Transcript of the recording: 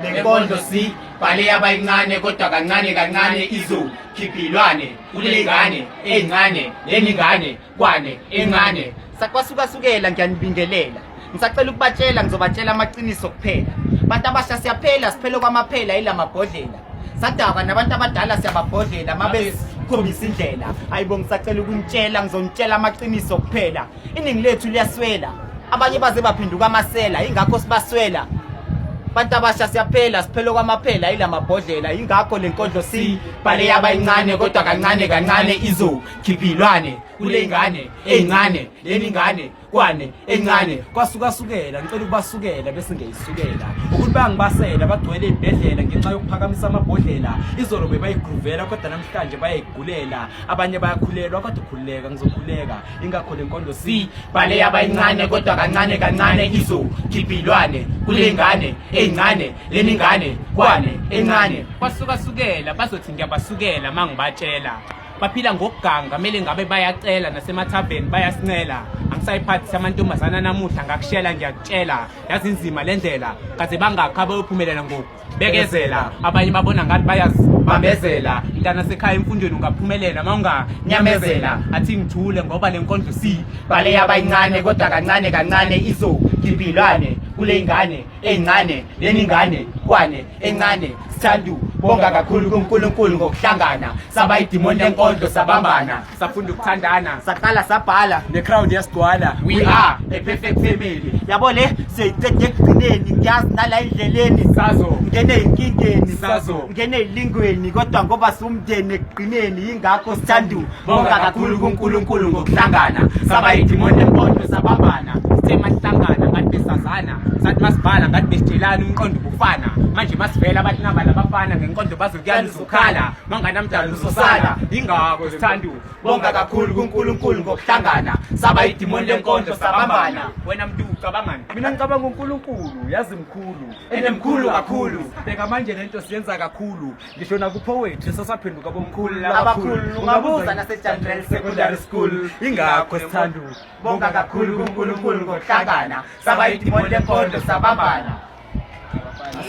lenkondo si bhale yabayincane kodwa kancane kancane izo khiphilwane kulengane encane leningane kwane encane sakwasuka sukela ngiyanibingelela ngisacela ukubatshela ngizobatshela amaqiniso kuphela abantu abasha siyaphela siphele kwamaphela ilamabhodlela sadakwa nabantu abadala siyababhodlela mabe sikhombisa indlela ayibo ngisacela ukunitshela ngizonitshela amaqiniso kuphela iningi lethu liyaswela abanye baze baphenduka amasela ingakho sibaswela bantu abasha siyaphela siphela kwamaphela yila mabhodlela yingakho le nkondlo sibhale yabayincane kodwa kancane kancane izokhiphilwane kule ngane eyincane leni ngane kwane encane kwasukasukela ngicela ukubasukela bese ngiyisukela ukuthi bangibasela bagcwele ibhedlela ngenxa yokuphakamisa amabhodlela izolo bebayigruvela kodwa namhlanje bayayigulela abanye bayakhulelwa kodwa ukhululeka ngizokhuleka ingakho le nkondo si bale yabayincane kodwa kancane kancane izokhiphilwane kule ngane eyincane le ningane kwane encane basukasukela bazothi ngiyabasukela uma ngibatshela baphila ngokuganga kumele ngabe bayacela nasemathaveni bayasincela angisayiphathisa amantombazana namuhla ngakushela ngiyakutshela yazinzima le ndlela kaze bangakhi abayophumelela ngoku bekezela abanye babona ngathi bayazibambezela mntana sekhaya emfundweni ungaphumelela uma unganyamezela athi ngithule ngoba le nkondlo si bale yabayincane kodwa kancane kancane izogibhilwane kule ngane eyincane leningane kwane encane sithandu bonga kakhulu kunkulunkulu ngokuhlangana sabayidimoni lenkondlo sabambana safunda ukuthandana saqala sabhala necrowd yasigcwala we are a perfect family yabo le siyayiqeda ekugcineni ngiyazi nala endleleni sazo ngene ezinkingeni sazo ngene ezilingweni kodwa ngoba siwumndeni ekugcineni yingakho sithanda bonga kakhulu kuNkulunkulu ngokuhlangana saba idimoni empondo sabambana sithe mahlangana ngathi besazana sathi masibhala ngathi besitshelana umqondo ubufana manje masivela abathi nabala abafana ngenkondo bazokuyala uzokhala manganamdala usosana yingako sithanda bonga kakhulu kuNkulunkulu ngokuhlangana saba idimoni lenkondlo sabambana wena mntu ucabangani mina ngicabanga uNkulunkulu yazi mkhulu enemkhulu kakhulu bheka manje lento siyenza kakhulu ngisho nakupowetri sasaphenduka bomkhulu labakhulu ungabuza nasejanrel secondary school ingakho sithanda bonga kakhulu kuNkulunkulu ngokuhlangana saba idimoni lenkondlo sabambana